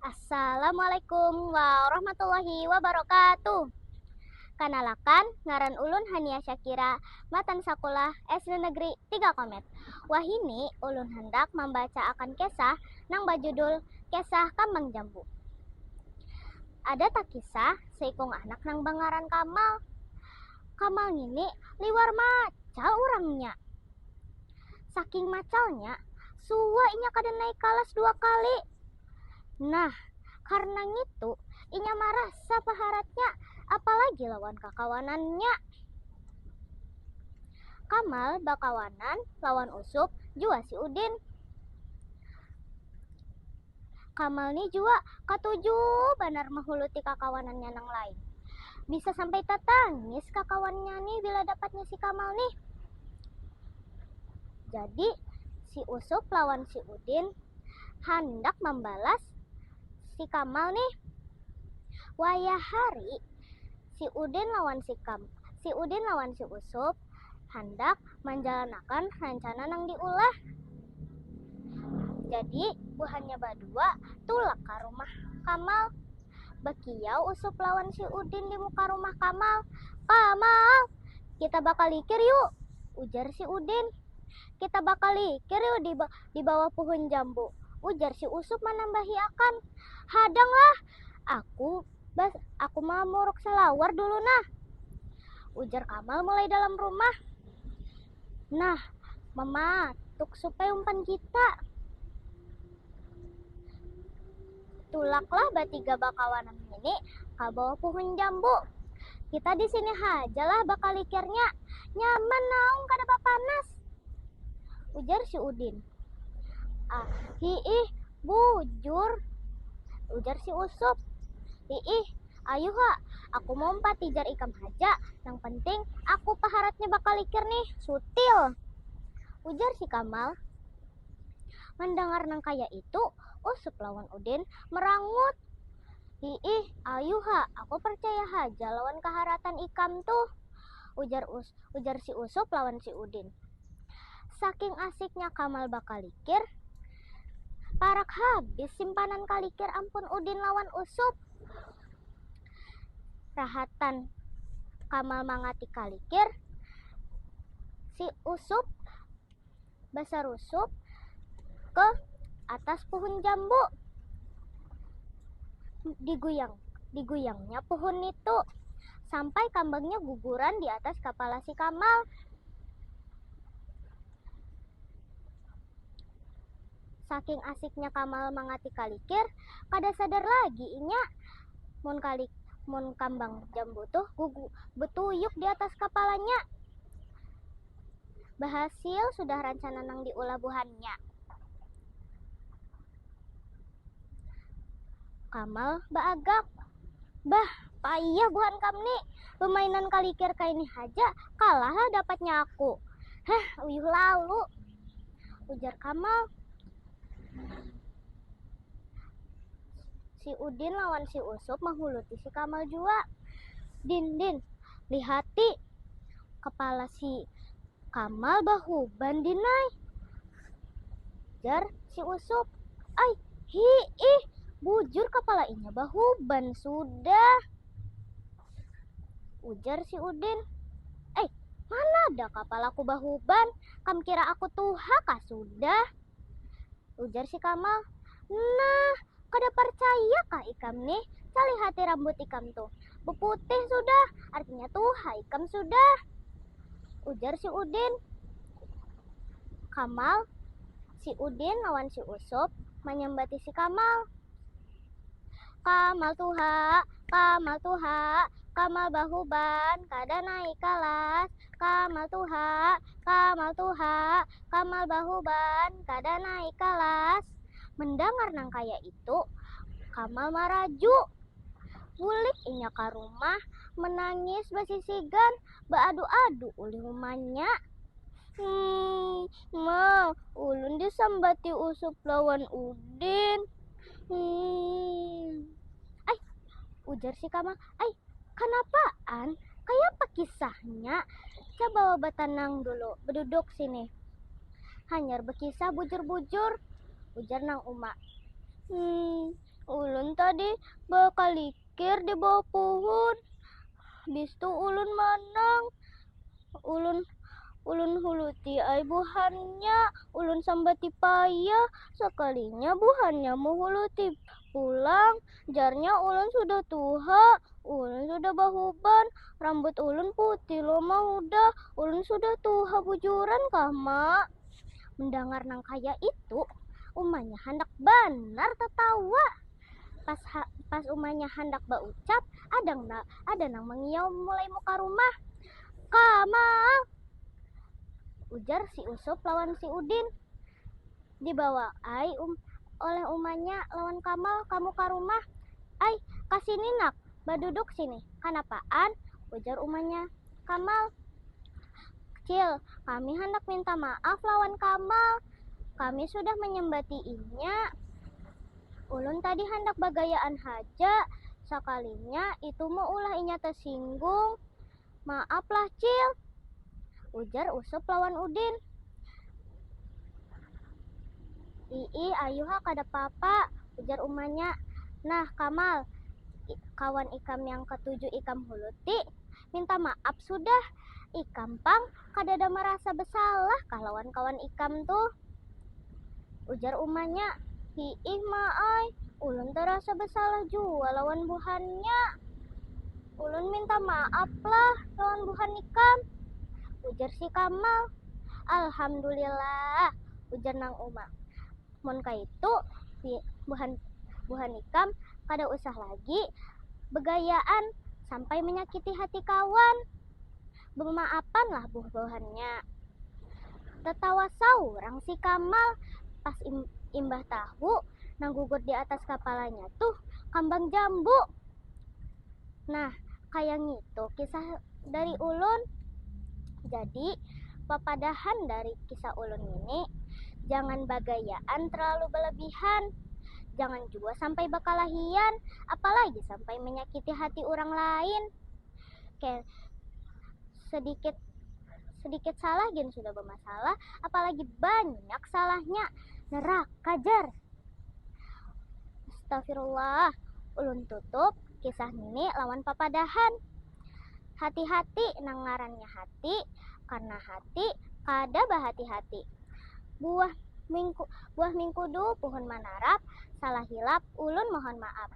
Assalamualaikum warahmatullahi wabarakatuh. Kanalakan, ngaran ulun Hania Syakira, matan sakulah SD Negeri 3 Komet. Wahini ulun handak mambaca akan kisah nang bajudul Kisah Kambang Jambu. Ada takisah seikung anak nang bangaran Kamal. Kamal ngini liwar macal urangnya. Saking macalnya, suwa inya kada naik kalas dua kali. Nah, karna ngitu, inya marasa paharatnya, apalagi lawan kakawanannya. Kamal bakawanan lawan Usup jua si Udin. Kamal ni jua katuju banar mahuluti kakawanannya nang lain. Bisa sampai tatangis kakawannya ni bila dapatnya si Kamal nih. Jadi, si Usup lawan si Udin handak mambalas si Kamal nih. Wayah hari, si Udin lawan si Kam, si Udin lawan si Usup. handak manjalanakan rancana nang diulah. Jadi, buhannya badua tulak ka rumah Kamal. Bakiyau Usup lawan si Udin di muka rumah Kamal. Kamal! Kita bakalikir yu! ujar si Udin. Kita bakalikir yu di bawah puhun jambu, ujar si Usup manambahi akan. Hadanglah! Aku Bah, aku ma muruk salawar dulu nah. Ujar Kamal mulai dalam rumah. Nah, mama, tuk supai umpan kita. Tulaklah batiga bakawanan ngini ka bawah puhun jambu. Kita di sini haja lah bakalikirnya. Nyaman naung kada bapanas. Ujar si Udin. Ah, hiih, Bujur! ujar si Usup. Hiih, ayuh ha, aku maumpat tijar ikam haja, nang penting aku paharatnya bakalikir nih, sutil! ujar si Kamal. Mandangar nang kaya itu, Usup lawan Udin merangut. Hiih, ayuh ha, aku parcaya haja lawan kaharatan ikam tuh, ujar ujar si Usup lawan si Udin. Saking asiknya Kamal bakalikir, Parak habis simpanan kalikir ampun udin lawan usup. Rahatan kamal mangati kalikir si usup basarusup ke atas puhun jambu diguyang diguyangnya puhun nitu sampai kambangnya guguran di atas kapala si kamal. Saking asiknya Kamal mangatik kalikir, kada sadar lagi inya mun kalik mun kambang jambu tuh betuyuk di atas kapalanya. Bahasil sudah rancana nang diulah buhannya. Kamal baagak. Bah, payah buhan kam ni. Bemainan kalikir kaini haja, kalahlah dapatnya aku. Heh, uyuh lalu, ujar Kamal. Si Udin lawan si Usup mahuluti si Kamal jua. Din, din, lihati kepala si Kamal bahuban din ai. Jar si Usup. Ai, hiih, bujur kapala inya bahuban sudah. Ujar si Udin. Ai, mana ada kapalaku bahuban, kam kira aku tuha kah sudah. Ujar si Kamal. Nah, Kada parcaya kah ikam nih? Salihati rambut ikam tuh. Beputih sudah, artinya tuha ikam sudah. Ujar si Udin. Kamal, si Udin lawan si Usup manyambati si Kamal. Kamal tuha, Kamal tuha, Kamal bahuban, kada naik kalas, kamal tuha kamal tuha kamal bahuban kada naik kalas mendangar nang kaya itu kamal maraju bulik inya ka rumah menangis basisigan baadu adu ulih umanya hmm ma ulun disambati usup lawan udin hmm ai ujar si kamal ai. Kanapaan? Kayapa kisahnya? Cabawa batanang dulu, baduduk sinih. Hanyar bakisah bujur-bujur, ujar nang uma. Hmm, ulun tadi bakalikir di bawah puhun, habis tu ulun manang, ulun ulun huluti ai buhannya, ulun sambati payah, sakalinya buhannya mahuluti pulang, Jarnya ulun sudah tuha, ulun sudah bahuban, rambut ulun putih lo ma hudah, ulun sudah tuha bujuran kah ma. Mendangar nang kaya itu umanya handak banar tatawa, pas pas umanya handak baucap ada nang ada nang mangiyau mulai muka rumah, ka mang. Ujar si usup lawan si udin. Dibawa ai oleh umanya lawan Kamal kamu ka rumah. Ai, ka sini nak, baduduk sini. Kanapaan? ujar umanya Kamal. Cil, kami handak minta maaf lawan Kamal. Kami sudah manyambati inya. Ulun tadi handak bagayaan haja, sakalinya itu meulah inya tasinggung. Maaf lah Cil, ujar Usup lawan Udin. Iih, ayu ha kada papa, ujar umanya. Nah Kamal, kawan ikam yang ketujuh ikam huluti, minta maaf sudah, ikam pang kadada marasa besalah kah lawan kawan ikam tuh? ujar umanya. Hiih ma ai, ulun tarasa besalah jua lawan buhannya. Ulun minta maaf lah lawan buhan ikam, ujar si Kamal. Alhamdulillah, ujar nang uma, mun kaitu buhan buhan ikam kada usah lagi begayaan sampai menyakiti hati kawan. Bumaapan lah buh buhannya. Tatawa saurang si Kamal, pas imbah tahu nang gugur di atas kapalanya tuh kambang jambu. Nah, kaya ngitu kisah dari ulun. Jadi, papadahan dari kisah ulun ngini, jangan bagayaan terlalu balebihan, jangan jua sampai bakalahian, apalagi sampai manyakiti hati urang lain. Oke, sedikit sedikit salah gin sudah bermasalah, apalagi banyak salahnya. Nerak, kajar. Astagfirullah, ulun tutup kisah ini lawan papadahan. Hati-hati nang ngarannya hati, karena hati kada bahati-hati. Buah mingku, buah mingkudu puhun manarap, salah hilap ulun mohon maaf.